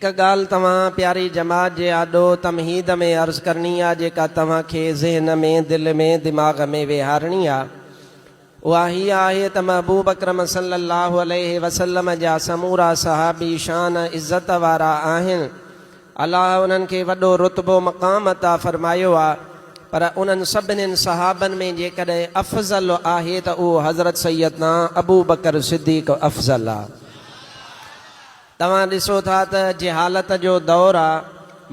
هڪ ڳالهه توهان پياري جماعت جي آڏو تمهيد ۾ عرض ڪرڻي آ جيڪا توهان کي ذهن ۾ دل ۾ دماغ ۾ ويهارڻي آ اها هيء آهي ته محبوب اڪرم صلي الله عليه وسلم جا سمورا صحابي شان عزت وارا آهن الله انهن کي وڏو رتبو مقام عطا فرمايو آ پر انهن سڀنين صحابن ۾ جيڪڏهن افضل آهي ته اهو حضرت سيدنا ابوبڪر صديق افضل آ. توهان ڏسو ٿا ته جهالت جو دور آ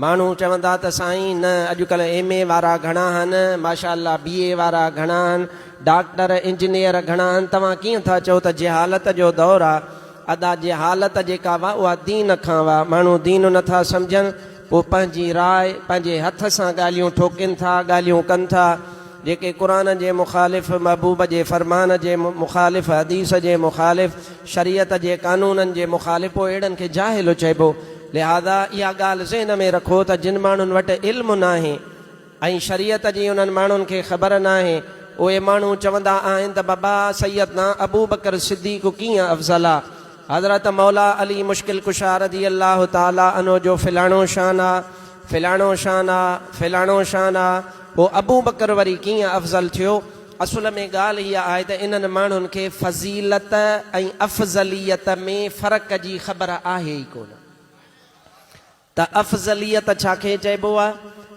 ماڻهو چوندا ته سائين نه اڄڪلهه ايم اي وارا گهڻا هن ماشاء الله بي اي وارا گهڻا هن ڊاڪٽر انجنيئر گهڻا هن توهان ڪيئن ٿا چئو ته جهالت جو دور آ ادا جهالت جيڪا هئا اها دين کان هئا ماڻهو دين نه ٿا سمجهن پوء پنهنجي راء، پنهنجي هٿ سان ڳالهيون ٺوڪين ٿا، ڳالهيون ڪن ٿا، جيڪي قرآن جي مخالف، محبوب جي فرمان جي مخالف، حديث جي مخالف، شريعت جي قانونن جي مخالف، پوء اهڙن کي جاهل چئبو. لهذا اها ڳالهه ذهن ۾ رکو ته جن ماڻهن وٽ علم ناهي، ۽ شريعت جي انهن ماڻهن کي خبر ناهي، اهي ماڻهو چوندا آهن ته بابا سيدنا ابوبڪر صديق ڪيئن افضل آ، حضرت مولا علي مشڪل ڪشا رضي الله تعاليٰ عنه جو فلاڻو شان آ، فلاڻو شان آ، فلاڻو شان آ، پوء ابوبڪر وري ڪيئن افضل ٿيو؟ اصل ۾ ڳالهه اها آهي ته انهن ماڻهن کي فضيلت ۽ افضليت ۾ فرق جي خبر آهي ئي ڪونه. ته افضليت ڇا کي چئبو آ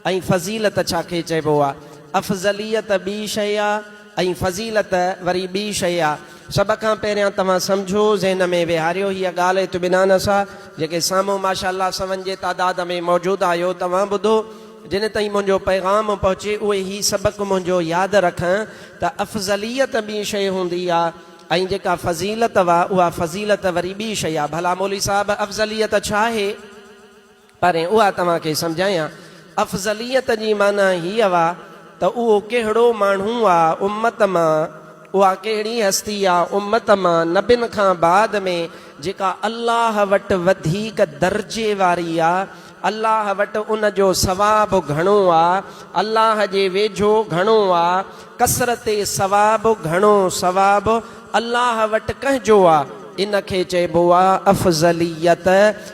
۽ فضيلت ڇا کي چئبو آ. افضليت ٻي شيء آ ۽ فضيلت وري ٻي شيء آ. سڀ کان پهريان توهان سمجهو، ذهن ۾ ويهاريو هيء ڳالهه اطمينان سان، جيڪي سامهون ماشاءالله سون جي تعداد ۾ موجود آهيو، توهان ٻڌو، جن تائين منهنجو پيغام پهچي، اهي هي سبق منهنجو ياد رکن ته افضليت ٻي شيء هوندي آ، ۽ جيڪا فضيلت هئا اها فضيلت وري ٻي شيء آهي ڀلا مولوي صاحب افضليت ڇا آهي؟ پرين اها توهان کي سمجهايان افضليت جي معنيٰ هيء هئا ته اهو ڪهڙو ماڻهو آ امت مان اها ڪهڙي هستي آ امت مان نبين کان بعد ۾ جيڪا الله وٽ وڌيڪ درجي واري آ الله وٽ ان جو ثواب گهڻو آ، الله جي ويجهو گهڻو آ، ڪثرت ثواب گهڻو ثواب الله وٽ ڪنهن جو آ، ان کي چئبو آ افضليت،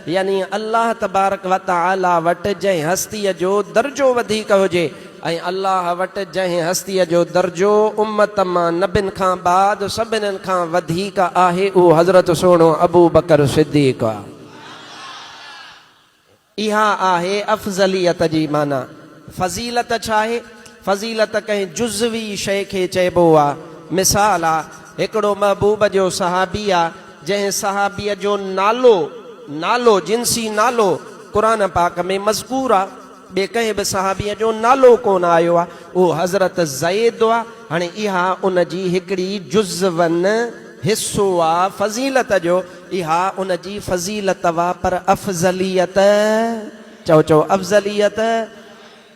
يعني الله تبارڪ وتعالي وٽ جنهن هستيء جو درجو وڌيڪ هجي ۽ الله وٽ جنهن هستيء جو درجو امت مان نبين کان بعد سڀنين کان وڌيڪ آهي اهو حضرت سهڻو ابوبڪر صديق آ. اها آهي افضليت جي معنيٰ. فضيلت ڇا آهي؟ فضيلت ڪنهن جزوي شيء کي چئبو آ. مثال آ، هڪڙو محبوب جو صحابي آ، جنهن صحابيء جو نالو، نالو، جنسي نالو، قرآن پاڪ ۾ مذڪور آ. ٻئي ڪنهن به صحابيء جو نالو ڪونه آيو آهي، اهو حضرت زيد آهي، هاڻي اها ان جي هڪڙي جزون، حصو، آ فضيلت جو، اها ان جي فضيلت آ پر افضليت، چئو چئو افضليت،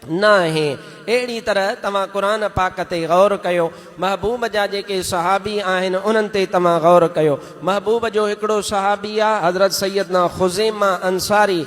ناهي، اهڙي طرح توهان قرآن پاڪ تي غور ڪيو، محبوب جا جيڪي صحابي آهن انهن تي توهان غور ڪيو، محبوب جو هڪڙو صحابي آ حضرت سيدنا خزيمه انصاري،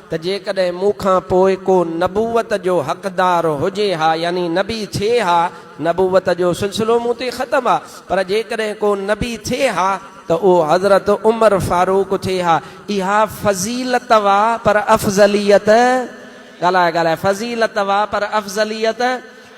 ته جيڪڏهن مون کان پوء ڪو نبوت جو حقدار هجي ها يعني نبي ٿئي ها، نبوت جو سلسلو مون تي ختم آ، پر جيڪڏهن ڪو نبي ٿئي ها ته اهو حضرت عمر فاروق ٿئي ها، اها فضيلت و پر افضليت، ڳالهاء ڳالهاء، فضيلت و پر افضليت،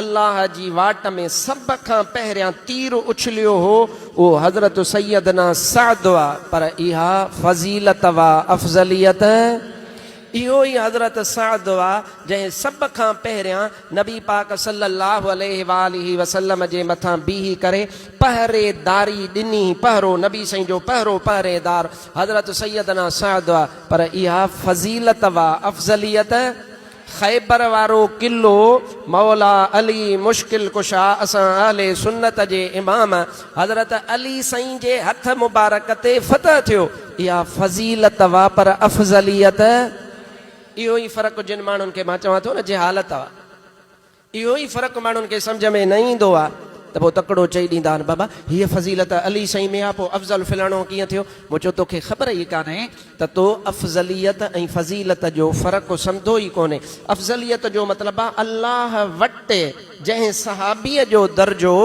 الله جي واٽ ۾ سڀ کان پهريان تير اڇليو هو اهو حضرت سيدنا سعد هئا پر اها فضيلت و افضليت اهو ئي حضرت سعد هئا جنهن سڀ کان پهريان نبي پاڪ صلي الله عليه واٰله وسلم جي مٿان بيهي ڪري پهريداري ڏني پهرو نبي سائين جو پهرو پهريدار حضرت سيدنا سعد هئا پر اها فضيلت و افضليت خيبر وارو قلعو مولا علي مشڪل ڪشا اسان اهل سنت جي امام حضرت علي سائين جي هٿ مبارڪ تي فتح ٿيو اها فضيلت وئا پر افضليت اهو ئي فرق جن ماڻهن کي مان چوان ٿو نه جهالت وئا. اهو ئي فرق ماڻهن کي سمجهه ۾ نه ايندو آ ته پوء تڪڙو چئي ڏيندا آهن بابا هيء فضيلت علي سائين ۾ آ پوء افضل فلاڻو ڪيئن ٿيو؟ مون چيو توکي خبر ئي ڪانهي ته تو افضليت ۽ فضيلت جو فرق سمڌو ئي ڪونهي افضليت جو مطلب آ الله وٽ جنهن صحابيء جو درجو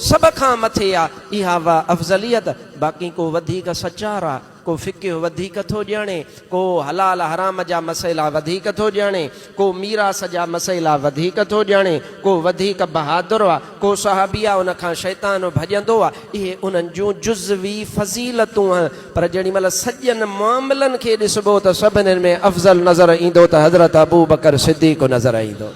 سڀ کان مٿي آ اها آ افضليت باقي ڪو وڌيڪ سچار آ ڪو فقه وڌيڪ ٿو ڄاڻي، ڪو حلال حرام جا مسئلا وڌيڪ ٿو ڄاڻي، ڪو ميراث جا مسئلا وڌيڪ ٿو ڄاڻي، ڪو وڌيڪ بهادر آ، ڪو صحابي آ ان کان شيطان ڀڄندو آ، اهي انهن جون جزوي فضيلتون آهن، پر جيڏي مهل سڄن معاملن کي ڏسبو ته سڀنين ۾ افضل نظر ايندو ته حضرت ابوبڪر صديق نظر ايندو.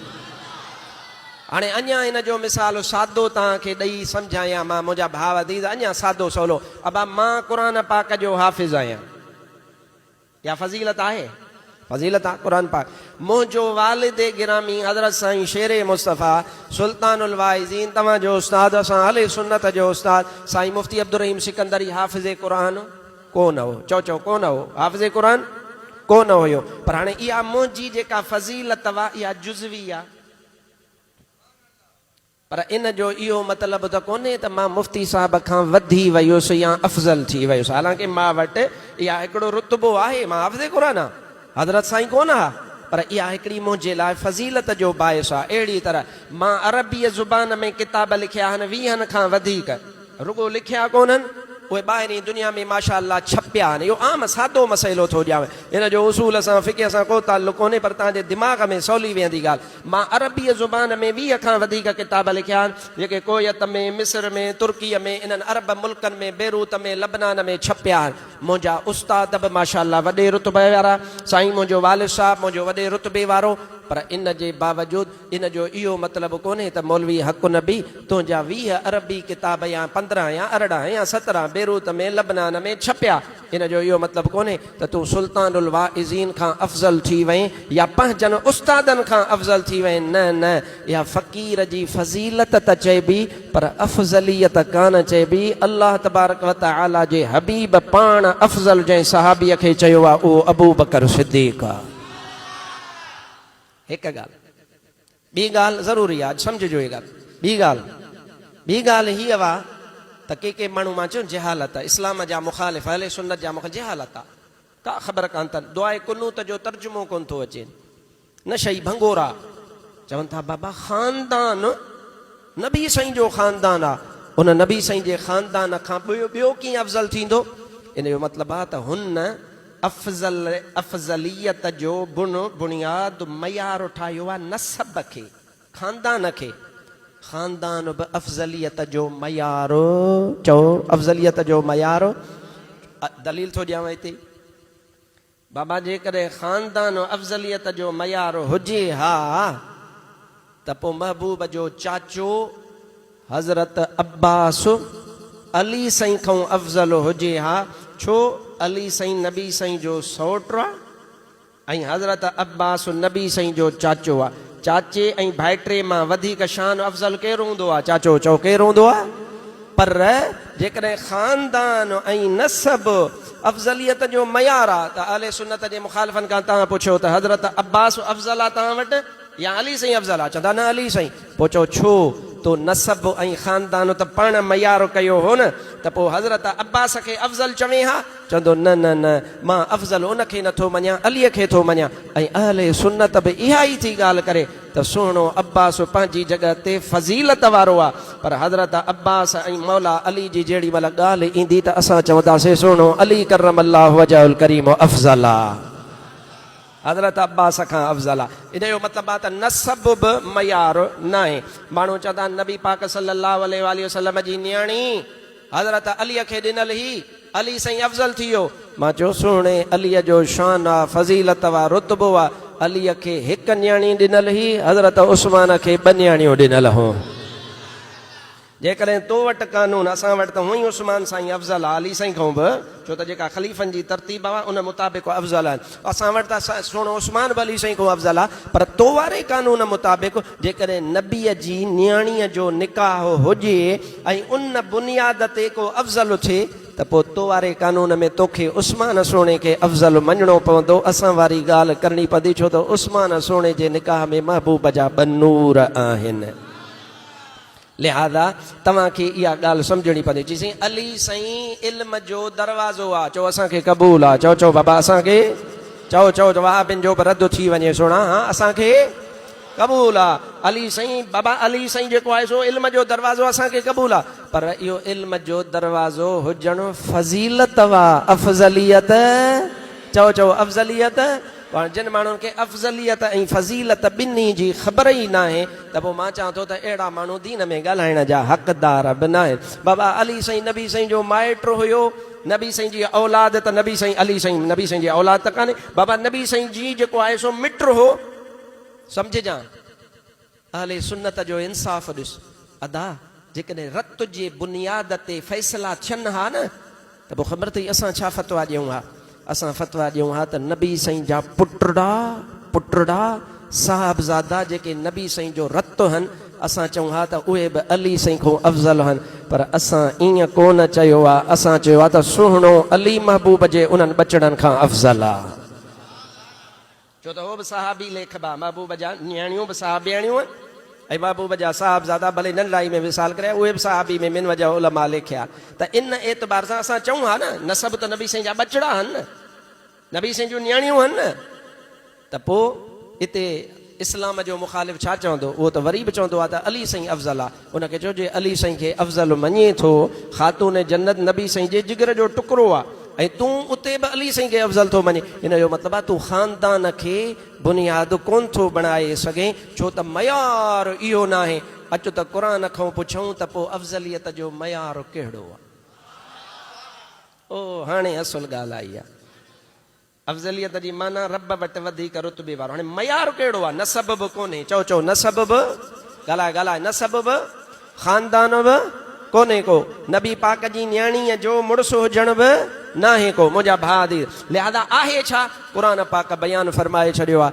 هاڻي اڃا ان جو مثال سادو توهان کي ڏئي سمجهايان مان منهنجا ڀاء عزيز اڃا سادو سولو ابا مان قرآن پاڪ جو حافظ آهيان اها فضيلت آهي فضيلت آهي قرآن پاڪ منهنجو والد گرامي حضرت سائين شير مصطفيٰ سلطان الواعظين توهان جو استاد اسان اهل سنت جو استاد سائين مفتي عبدالرحيم سڪندري حافظ قرآن ڪونه هو چئو چئو ڪونه هو حافظ قرآن ڪونه هيو پر هاڻي اها منهنجي جيڪا فضيلت اها جزوي آهي پر ان جو اهو مطلب ته ڪونهي ته مان مفتي صاحب کان وڌي ويس يا افضل ٿي ويس، حالانڪه مان وٽ اها هڪڙو رتبو آهي، مان حافظ قرآن آهيان، حضرت سائين ڪونه آهي، پر اها هڪڙي منهنجي لاء فضيلت جو باعث آهي. اهڙيء طرح مان عربيء زبان ۾ ڪتاب لکيا آهن، ويهن کان وڌيڪ. رڳو لکيا ڪونهن، اهي ٻاهرين دنيا ۾ ماشاء الله ڇپيا آهن. اهو عام سادو مسئلو ٿو ڏيانء. هن جو اصول سان، فقه سان ڪو تعلق ڪونهي، پر توهان جي دماغ ۾ سولي ويهندي ڳالهه. مان عربيء زبان ۾ ويهه کان وڌيڪ ڪتاب لکيا آهن، جيڪي ڪويت ۾، مصر ۾، ترڪيء ۾، انهن عرب ملڪن ۾ بيروت ۾، لبنان ۾ ڇپيا آهن. منهنجا استاد به ماشاء الله وڏي رتبي وارا، سائين منهنجو والد صاحب منهنجو وڏي رتبي وارو، پر ان جي باوجود، ان جو اهو مطلب ڪونهي ته مولوي حق النبي تنهنجا ويهه عربي ڪتاب يا پندرهن يا ارڙهن يا سترهن بيروت ۾ لبنان ۾ ڇپيا ان جو اهو مطلب ڪونهي ته تون سلطان الواعظين کان افضل ٿي وئين يا پنهنجن استادن کان افضل ٿي وئين نه نه اها فقير جي فضيلت ته چئبي پر افضليت ڪانه چئبي الله تبارڪ وتعالي جي حبيب پاڻ افضل جنهن صحابي کي چيو آهي اهو ابوبڪر صديق آهي. هڪ ڳالهه ٻي ڳالهه ضروري آ اڄ سمجهجو هي ڳالهه ٻي ڳالهه ٻي ڳالهه هي اها ته ڪي ڪي ماڻهو مان چيو جهالت اسلام جا مخالف اهل سنت جا مخالف جهالت آ ڪا خبر ڪان تن دعاء قنوت جو ترجمو ڪون ٿو اچين نشئي ڀنگورا چون ٿا بابا خاندان نبي سائين جو خاندان آ ان نبي سائين جي خاندان کان ٻيو ڪيئن افضل ٿيندو ان جو مطلب آ ته هن افضل افضليت جو بن بنياد معيار ٺاهيو آهي نسب کي، خاندان کي، خاندان به افضليت جو معيار چئو افضليت جو معيار دليل ٿو ڏيانو هتي بابا جيڪڏهن خاندان افضليت جو معيار هجي ها. ته پوء محبوب جو چاچو حضرت عباس علي سائين کئون افضل هجي ها ڇو علي سائين نبي سائين جو سئوٽ آ ۽ حضرت عباس نبي سائين جو چاچو آ چاچي ۽ ڀائٽي مان وڌيڪ شان افضل ڪير هوندو آ چاچو چئو ڪير هوندو آ پر جيڪڏهن خاندان ۽ نسب افضليت جو معيار آ ته اهل سنت جي مخالفن کان توهان پڇيو ته حضرت عباس افضل آ توهان وٽ؟ يا علي سائين افضل آ چوندا نه علي سائين پو چئو ڇو تو نسب ۽ خاندان ته پاڻ ميار ڪيو هو نه ته پو حضرت عباس کي افضل چوين ها چوندو نه نه نه مان افضل ان کي نٿو مڃان علي کي ٿو مڃان ۽ اهل سنت به اها ئي ٿي ڳالهه ڪري ته سهڻو عباس پنهنجي جڳهه تي فضيلت وارو آ پر حضرت عباس ۽ مولا علي جي جيڙي مهل ڳالهه ايندي ته اسان چونداسين سهڻو علي ڪرم الله وجهه الڪريم افضل آ. حضرت عباس کان افضل آ ان جو مطلب آ ته نسب به معيار ناهي ماڻهو چوندا آهن نبي پاڪ صلي الله عليه واٰله وسلم جي نياڻي حضرت علي کي ڏنل هي علي سائين افضل ٿي ويو مان چيو سهڻي علي جو شان آ فضيلت آ رتبو آ علي کي هڪ نياڻي ڏنل هي حضرت عثمان کي ٻه نياڻيون ڏنل هون. جيڪڏهن تو وٽ قانون، اسان وٽ ته هونئن ئي عثمان سائين افضل آ، علي سائين کان به، ڇو ته جيڪا خليفن جي ترتيب آ ان مطابق هو افضل آهن. اسان وٽ ته سهڻو عثمان به علي سائين کان افضل آ، پر تو واري قانون مطابق جيڪڏهن نبيء جي نياڻيء جو نڪاح هجي ۽ ان بنياد تي ڪو افضل اٿي ته پوء تو واري قانون ۾ توکي عثمان سهڻي کي افضل مڃڻو پوندو، اسان واري ڳالهه ڪرڻي پوندي ڇو ته عثمان سهڻي جي نڪاح ۾ محبوب جا ٻه نور آهن. لهٰذا توهان کي اها ڳالهه سمجهڻي پوندي. چي سائين علي سائين علم جو دروازو آ. چئو اسان کي قبول آ. چئو چئو بابا اسان کي چئو چئو چئو وهابين جو به رد ٿي وڃي سهڻا ها اسان کي قبول آ. علي سائين بابا علي سائين جيڪو آهي سو علم جو دروازو آ اسان کي قبول آ. پر اهو علم جو دروازو هجڻ فضيلت وا افضليت چئو چئو افضليت. پڻ جن ماڻهن کي افضليت ۽ فضيلت ٻنهي جي خبر ئي ناهي ته پوء مان چوان ٿو ته اهڙا ماڻهو دين ۾ ڳالهائڻ جا حقدار به ناهن. بابا علي سائين نبي سائين جو مائٽ هيو، نبي سائين جي اولاد ته نبي سائين علي سائين نبي سائين جي اولاد ته ڪانهي، بابا نبي سائين جي جيڪو آهي سو مٽ هو. سمجهجان. اهل سنت جو انصاف ڏس ادا جيڪڏهن رت جي بنياد تي فيصلا ٿين ها نه ته پوء خبر اٿئي اسان ڇا فتويٰ ڏيون ها اسان فتويٰ ڏيون ها ته نبي سائين جا پٽڙا پٽڙا صاحبزادا جيڪي نبي سائين جو رت هن اسان چئون ها ته اهي به علي سائين کون افضل هن پر اسان ائين ڪونه چيو آ اسان چيو آ ته سهڻو علي محبوب جي انهن ٻچڙن کان افضل آ. ڇو ته هو به صحابي ليکبا، محبوب جا نياڻيون به صحابياڻيون هن ۽ محبوب جا صاحبزادا ڀلي ننڍڙائي ۾ وصال ڪريا اهي به صحابي ۾ من وجهه علماء ليکيا ته ان اعتبار سان اسان چئون ها نه نسب ته نبي سائين جا ٻچڙا هن نه نبي سائين جون نياڻيون هن نه ته پوء اتي اسلام جو مخالف ڇا چوندو اهو ته وري به چوندو ها ته علي سائين افضل آهي. ان کي چئو جي علي سائين کي افضل مڃين ٿو، خاتون جنت نبي سائين جي جگر جو ٽڪرو آ ۽ تون اتي به علي سائين کي افضل ٿو مڃين ان جو مطلب آ تون خاندان کي بنياد ڪون ٿو بڻائي سگهين ڇو ته معيار اهو ناهي اچ ته قرآن کئون پڇئون ته پو افضليت جو معيار ڪهڙو آ او هاڻي اصل ڳالهه آئي آ. افضليت جي معنيٰ رب وٽ وڌيڪ رتبي وارو. هاڻي معيار ڪهڙو آهي؟ نسب به ڪونهي. چئو چئو نسب به؟ ڳالهاء ڳالهاء نسب به؟ خاندان به ڪونهي ڪو. نبي پاڪ جي نياڻيء جو مڙس هجڻ به ناهي ڪو. منهنجا ڀاء ڌيء! لهذا آهي ڇا؟ قرآن پاڪ بيان فرمائي ڇڏيو آهي.